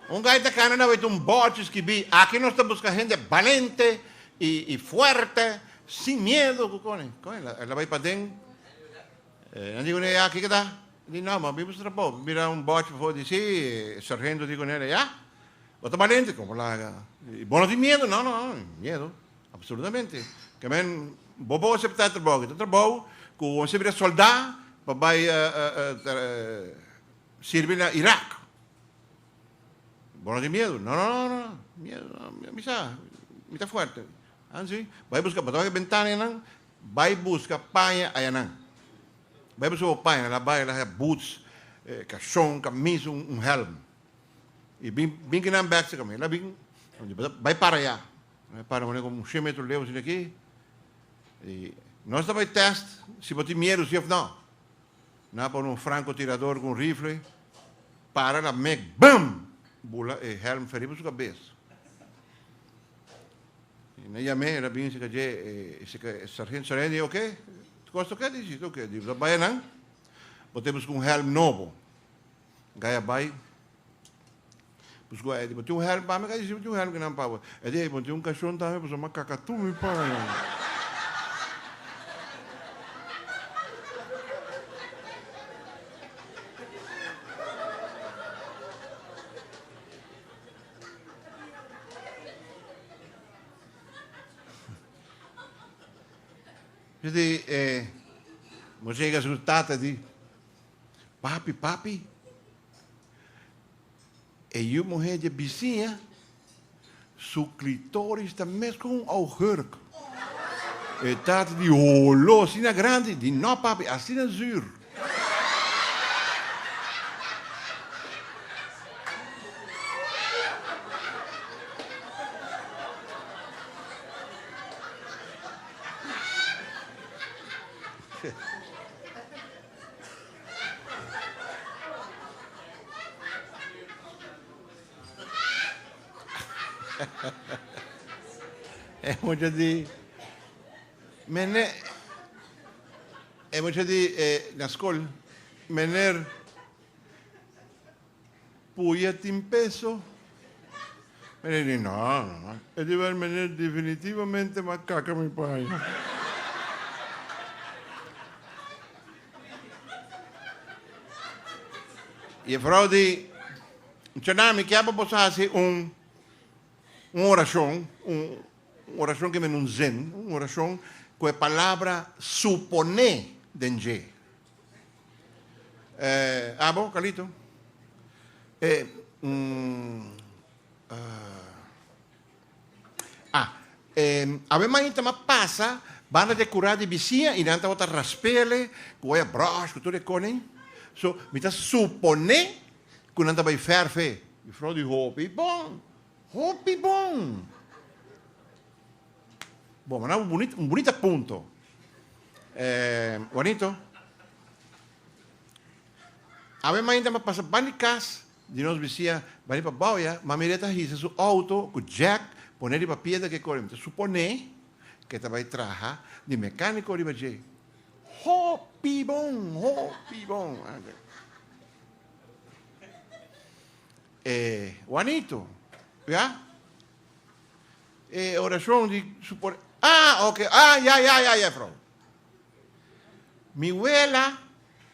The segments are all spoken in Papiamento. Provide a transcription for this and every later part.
Un guy ta cana na wet un bòrchi skibí, Aki nos ta buska hende balente i fuerte, sin miedu ku kòne. Kòne el a bai paden. Nan di kuné, Ya, kiko ta? E di, No, mambí mester trabou. E mira un bòrchi pafó, e di, Sí, e sargento di kuné, Ya, bo ta balente. Komo laga? E di, Bo no tin miedu? No, no, no tin miedu. Absolutamente. Ke men bo bo aseptá e trabou aki. Ta trabou ku bo mester bira soldá pa bai sirbi na Irak. Bo no tin miedu? No, no, no, no. Miedu no. Mi sa, mi ta fuerte. Ah, si? Bai buska, bo ta wak e bentana enan, bai buska paña ayanan. Bai buska bo paña, la bai, la haya boots, kashon, kamis, un hèlm. I bin, bin kina bèkse ku mi. La bin, bai para ayá. E para mane como un shen metro leu asina aki. Y nos ta bay test si bo tin miedu si of no. Nan a pone un franco tirador cu un rifle, para la mek, bum! Bula e helm fe riba su cabes. Y nan yame, el a bini asika dje, e sika e sargento Sareen di oke, ta cos ta oke? Di si ta oke. Di bo ta bay nan, bo ta busca un helm nobo. Gaya bai Pues cu Eddie, bo tin un helm pa mi? Gaya si bo tin un helm kinan pa bo? Eddie, ey, bo no tin un cashon tambe? Pasobra m'a caca tur mi pan. Moisés a yega sur tata e di. Papi, papi, e yu muhé dje bisiña su klitoris ta mes ku un augurk. E tata di holo asina grandi di no papi, asina zur. E mucha di, Mene-, e mucha di, eh, na skol, Meneer. Puya tin peso? Mene di, No, no. E di wer mene definitivamente ma kaka mi por haña. I e frou di, Chana, mi kier pa boso hasi un un orashon, un orashon ke mene un zen, un orashon ku e palabra suponé den dje. Eh, abo, Carlito? Eh, mm, ah, ah, eh, awe maña ta ma pasa banda de cura di bisiña y nan tabata raspele cu oya brush cu tur e cone. So, mi ta supone cu nan ta bay verfe. Mevrouw di hopi bon, hopi bon. Bo manda un bunita un bunita punto e Juanito awe main ta pasa ban di kas di nos bisia bani pa bou ya mami reta hisa su outo ku jack pone riba piedra ke kore mi ta supone ke ta bai traha di mekaniko riba dje hopi bon hopi bon e Juanito ya. E oracion di su por Ah, ok, ah, ya, ya, ya, ya, vrouw. Mi wela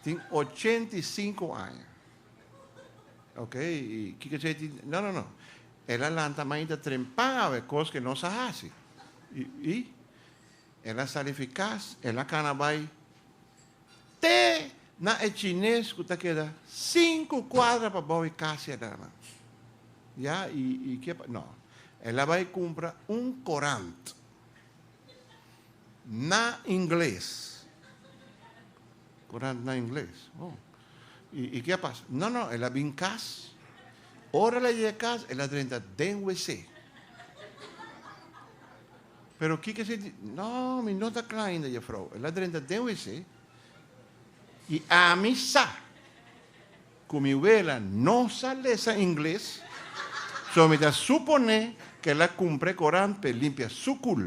tin ochenta i sinku aña. Ok, i kiko c'e tin? No, no, no. El a lanta mainta trempa awe, kos ke nos a hasi. I, i, el a salifi kas, el a kana bai. Te na e chines ku ta keda sinku kuadra pabou e kasi adannan. Ya, i i ke pa no. El a bai kumpra un korant na ingles. Korant na ingles. Oh. I i ke a pasa? No, no, el a bin kas. Ora el a yega kas, el a drenta den wc. Pero kiko esei di, No, mi no ta kla ainda, Jefrou. El a drenta den wc, i ami sa ku mi wela no sa lesa ingles, so mi ta suponé ku el a kumpra e korant pa e limpia su kul.